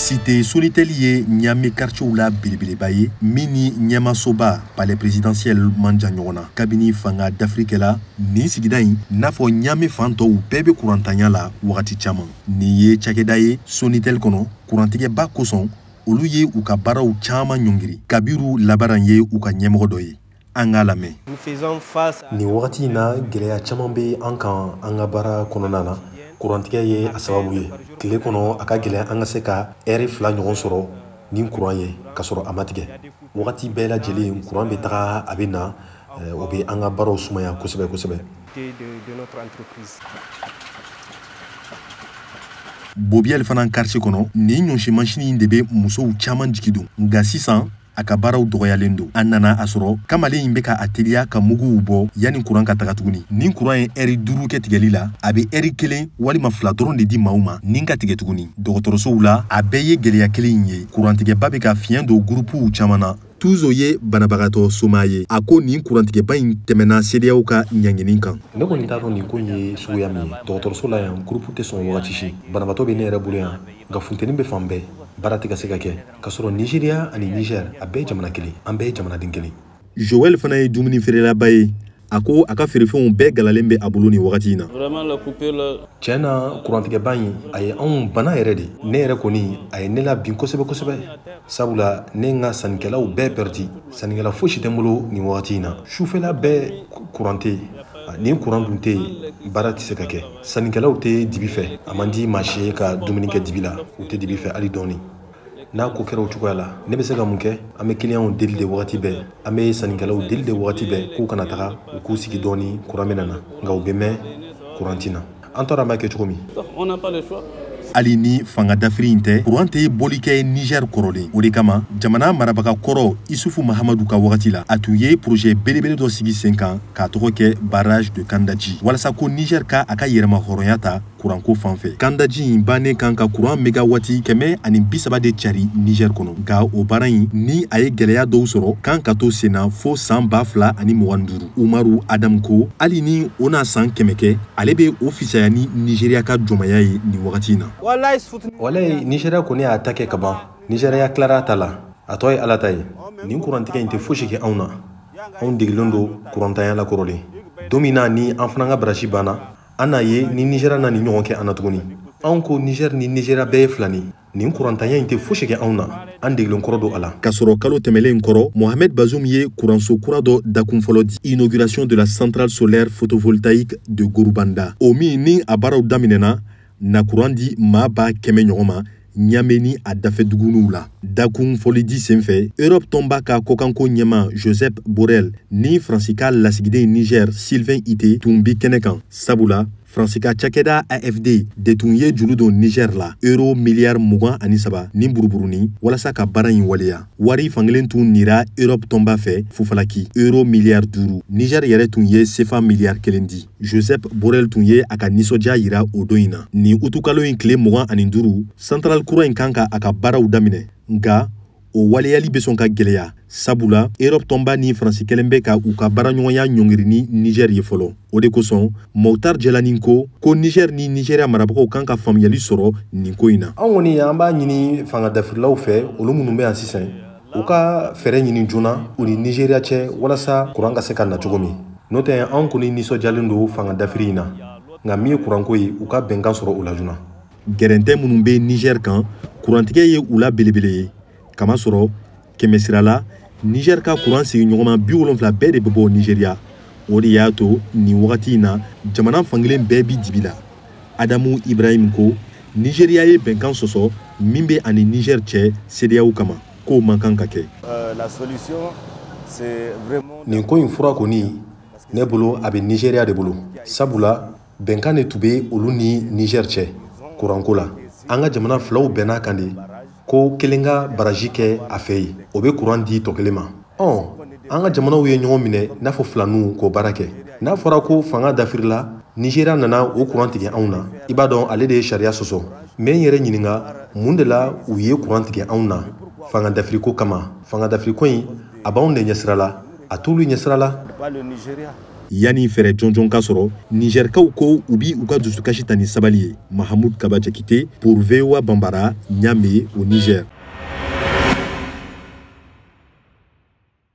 site sonitɛli ye ɲame karicɛw la belebeleba ye min ni ɲɛmasoba palais présidentiel man jan ɲɔgɔn na kabini fanga dafiri kɛla nin sigida in n'a fɔ ɲame fan tɔw bɛɛ be kurantanya la wagati caaman nin ye cakɛda ye sonitɛli kɔnɔ kurantigɛba kosɔn olu ye u ka baaraw caaman ɲɔngiri kabiru labaran ye u ka ɲɛmɔgɔ dɔ ye an k'a lamɛn nin wagati in na gɛlɛya caman bɛ an kan an ka baara kɔnɔna na kurantigɛ ye a sababu ye tile kɔnɔ a ka gɛlɛn an ka se ka ɛri fila ɲɔgɔn sɔrɔ ni kuran ye ka sɔrɔ a ma tigɛ wagati bɛɛ lajɛlen kuran bɛ taga a bɛ na eh, o bɛ an ka baaraw sumaya kosɛbɛ kosɛbɛ bobiel fana karicɛ kɔnɔ nin ɲɔsi masini de bɛ musow caman jigi don nka sisan a ka baaraw dɔgɔyalen don an nana a sɔrɔ kamalen in bɛ ka a teliya ka muguw bɔ yanni kuran ka taga tuguni ni kuran ye ɛri duuru kɛ tigɛli la a bɛ ɛri kelen walima fila dɔrɔn de di maaw ma ni ka tigɛ tuguni dɔgɔtɔrɔsow la a bɛɛ ye gɛlɛya kelen in ye kurantigɛba bɛ ka fiɲɛ don gurupuw caman na tuzo ye banabagatɔ somaa ye a ko nin kurantigɛba in tɛmɛna cedeao ka ɲangini kan ne kɔni t'a dɔn nin ko ye suguya min ye dɔgɔtɔrɔso la yan gurupu tɛ sɔn wagati si banabagatɔ bɛ ne yɛrɛ bolo yan nka funteni bɛ fan bɛɛ baara tɛ ka se ka kɛ ka sɔrɔ nizeriya ani nizɛr a bɛɛ jamana kelen an bɛɛ jamanaden kelen joel fana ye dumuni feerelaba ye a ko a ka feerefɛnw bɛɛ galalen bɛ a bolo nin wagati in na tiɲɛ na kurantigɛba in a ye anw bana yɛrɛ de ne yɛrɛ kɔni a ye ne labin kosɛbɛ kosɛbɛ sabula ne n ka sannikɛlaw bɛɛ pɛrɛdi sannikɛla fosi tɛ n bolo nin wagati in na sufɛla bɛɛ kuran tɛ ni kuran dun tɛ yen baara tɛ se ka kɛ sannikɛlaw tɛ dibi fɛ a man di maa si ye ka dumuni kɛ dibi la u tɛ dibi fɛ hali dɔɔni n'a ko kɛra o cogoya la ne bɛ se ka mun kɛ an bɛ kiliyanw deli de wagati bɛɛ an bɛ sannikɛlaw deli de wagati bɛɛ k'u kana taga u k'u sigi dɔɔni kuran bɛna na nka u bɛ mɛn kuran ti na an t'a dɔn an b'a kɛ cogo min hali ni fanga dafiri in tɛ kuran tɛ bɔli kɛ niger kɔrɔlen o de kama jamana marabaga kɔrɔ isufu mahamadu ka wagati la a tun ye projet belebele dɔ sigi sen kan k'a tɔgɔ kɛ barrage de kandaji walasa ko niger ka a ka yɛrɛmahɔrɔnya ta kuranko fan fɛ kandaji in bannen kan ka kuran megawati kɛmɛ ani bisaba de cari niger kɔnɔ nka o baara in ni a ye gwɛlɛya dɔw sɔrɔ kan ka to senna fo saan ba fila ani mugan duuru umaru adamu ko hali ni o na saan kɛmɛ kɛ ale be o fisaya ni nigeriya ka jɔnmaya ye nin wagati in na walayi nigeriya kɔni y'a ta kɛ ka ban nigeriya tilara a ta la a tɔ ye ala ta ye nin kurantigɛ in tɛ fosi kɛ anw na anw degilen don kurantanya la kɔrɔlen don min na ni an fana ka barasi banna an n'a ye ni nizɛriya na nin ɲɔgɔn kɛ an na tuguni anw ko nizɛri ni nizɛriya bɛɛ ye filani nin kurantanya in tɛ fosi kɛ anw na an degilen kɔrɔ don a la k'a sɔrɔ kalo tɛmɛlen kɔrɔ mohamed bazoum ye kuranso kura dɔ dakun fɔlɔ di inauguration de la centrale solaire photovoltaïque de gorubanda o min ni a baaraw daminɛna na kuran di maa ba kɛmɛ ɲɔgɔn ma ɲame ni a dafɛ dugunuw la dakun fɔlɔ di senfɛ erɔp tɔnba ka kɔkanko ɲɛmaa josep borrell ni faransi ka lasigiden niger sylvain itté tun bi kɛnɛ kan sabula faransi ka cakɛda afd de tun ye juru don niger la euro miliyari mugan ani saba ni buruburuni walasa ka baara in waleya wari fankelen tun nira erɔp tɔnba fɛ fufalaki euro miliyari duuru niger yɛrɛ tun ye sefa miliyari kelen di josep borrell tun ye a ka nisɔndiya yira o don in na nin utukalo in tile mugan ani duuru centrale kura in kan ka a ka baaraw daminɛ nka o waleyali bɛ sɔn ka gwɛlɛya sabula erɔp tɔnba ni faransi kɛlen bɛ ka u ka baaraɲɔgɔnya ɲɔngiri ni nizɛri ye fɔlɔ o de kosɔn moctar jelani ko ko nizɛri ni nizeriya marabagaw kan ka faamuyali sɔrɔ nin ko in na anw kɔni an b'a ɲini fanga dafirilaw fɛ olu minnu bɛ yan sisan u ka fɛɛrɛ ɲini joona u ni nizeriya cɛ walasa kuran ka se ka na cogo min n'o tɛ anw kɔni nisɔndiyalen don fanga dafiri in na nka min ye kuranko ye u ka bɛnkan sɔrɔ u la joona gɛrɛntɛ minnu bɛ nizɛri kan kurantigɛ ye u la belebele ye kamasɔrɔ kɛmɛsira la nizɛri ka kuran sigiɲɔgɔnma biwolonfila bɛɛ de bɛ bɔ nizeriya o de y'a to nin wagati in na jamana fankelen bɛɛ bi dibi la adamu ibrahim ko nizeriya ye bɛnkan sɔsɔ min bɛ a ni nizɛri cɛ sedeyaw kama k'o man kan ka kɛ nin ko in fura kɔni ne bolo a bɛ nizeriya de bolo sabula bɛnkan de tun bɛ olu ni nizɛri cɛ kuranko la an ka jamana filaw bɛnna a kan de ko kelen ka barrage kɛ a fɛ yen o bɛ kuran di tɔ kelen ma ɔn an ka jamanaw ye ɲɔgɔn minɛ i n'a fɔ filaninw k'o baara kɛ n'a fɔra ko fanga dafirila nizeriya nana o kuran tigɛ anw na i b'a dɔn ale de ye sariya sɔsɔ n bɛ n yɛrɛ ɲininka mun de la u ye kuran tigɛ anw na fanga dafiriko kama fanga dafiriko in a b'anw de ɲɛsira la a t'olu ɲɛsira la yanni fɛɛrɛ jɔnjɔn ka sɔrɔ nizɛrikaw ko u bi u ka dusukasi ta ni sabali ye mahamud kaba jakite pour voa bambara niamey au niger